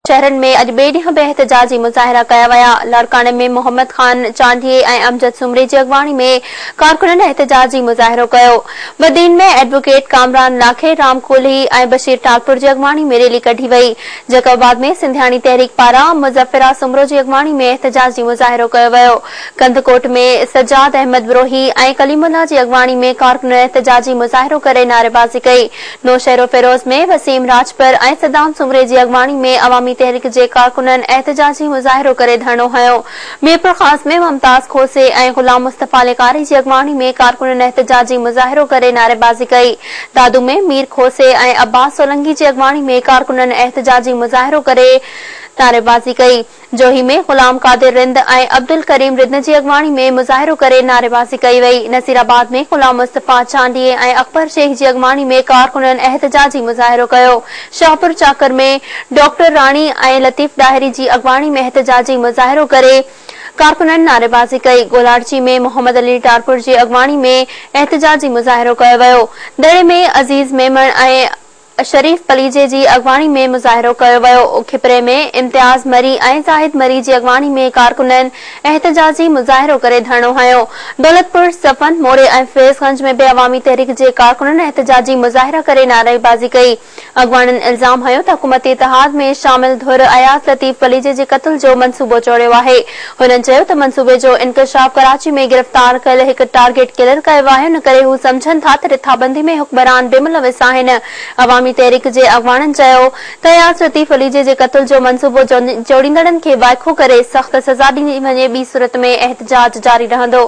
شهرن ۾ اڄ ٻئي ڏينهن به احتجاجي مظاهرا ڪيا ويا، لاڙڪاڻي ۾ محمد خان چانڊيي ۽ امجد سومري جي اڳواڻي ۾ ڪارڪنن احتجاجي مظاهرو ڪيو، بدين ۾ ايڊووڪيٽ ڪامران لاکي، رام ڪولهي ۽ بشير ٽالپر جي اڳواڻي ۾ ريلي ڪڍي وئي، جيڪب آباد ۾ سنڌياڻي تحريڪ پاران مظفرا سومرو جي اڳواڻي ۾ احتجاجي مظاهرو ڪيو ويو، ڪنڌڪوٽ ۾ سجاد احمد بروهي ۽ ڪليم الله جي اڳواڻي ۾ ڪارڪنن احتجاجي مظاهرو ڪري نعريبازي ڪئي، نوشهروفيروز ۾ وسيم راڄپر ۽ صدام سومري جي اڳواڻي ۾ عوامي تحريڪ جي ڪارڪنن احتجاجي مظاهرو ڪري ڌرڻو هنيو. ميرپورخاص ۾ ممتاز کوسي ۽ غلام مصطفيٰ لغاري جي اڳواڻي ۾ ڪارڪنن احتجاجي مظاهرو ڪري نعريبازي ڪئي. دادو ۾ مير کوسي ۽ عباس سولنگي جي اڳواڻي ۾ ڪارڪنن احتجاجي مظاهرو ڪري نعريبازي ڪئي. جوهي ۾ غلام قادر رند ۽ عبدالڪريم ردن جي اڳواڻي ۾ مظاهرو ڪري نعريبازي ڪئي وئي، نصيرآباد ۾ غلام مصطفيٰ چانڊيي ۽ اڪبر شيخ جي اڳواڻي ۾ ڪارڪنن احتجاجي مظاهرو ڪيو، شاهپورچاڪر ۾ ڊاڪٽر راڻي ۽ لطيف ڏاهري جي اڳواڻي ۾ احتجاجي مظاهرو ڪري ڪارڪنن نعريبازي ڪئي، گولاڙچي ۾ محمد علي ٽارپر جي اڳواڻي ۾ احتجاجي مظاهرو ڪيو ويو، دڙي ۾ عزيز ميمڻ ۽ شريف پليجي جي اڳواڻي ۾ مظاهرو ڪيو ويو، کپري ۾ امتياز مري ۽ زاهد مري جي اڳواڻي ۾ ڪارڪنن احتجاجي مظاهرو ڪري ڌرڻو هنيو، دولتپور، صفن، موري ۽ فيض گنج ۾ به عوامي تحريڪ جي ڪارڪنن احتجاجي مظاهرا ڪري نعري بازي ڪئي، اڳواڻن الزام هنيو ته حڪومتي اتحاد ۾ شامل ڌر اياز لطيف پليجي جي قتل جو منصوبو چوريو آهي، هنن چيو ته منصوبي جو انڪشاف ڪراچي ۾ گرفتار ڪيل هڪ ٽارگيٽ ڪلر ڪيو آهي ان ڪري هو سمجهن ٿا ته رٿابندي ۾ حڪمران بي ملوث آهن عوامي تحريڪ جي اڳواڻن چيو ته اياز لطيف عليجي جي قتل جو منصوبو جوڙيندڙن کي وائکو ڪري سخت سزا ڏني وڃي ٻي صورت ۾ احتجاج جاري رهندو.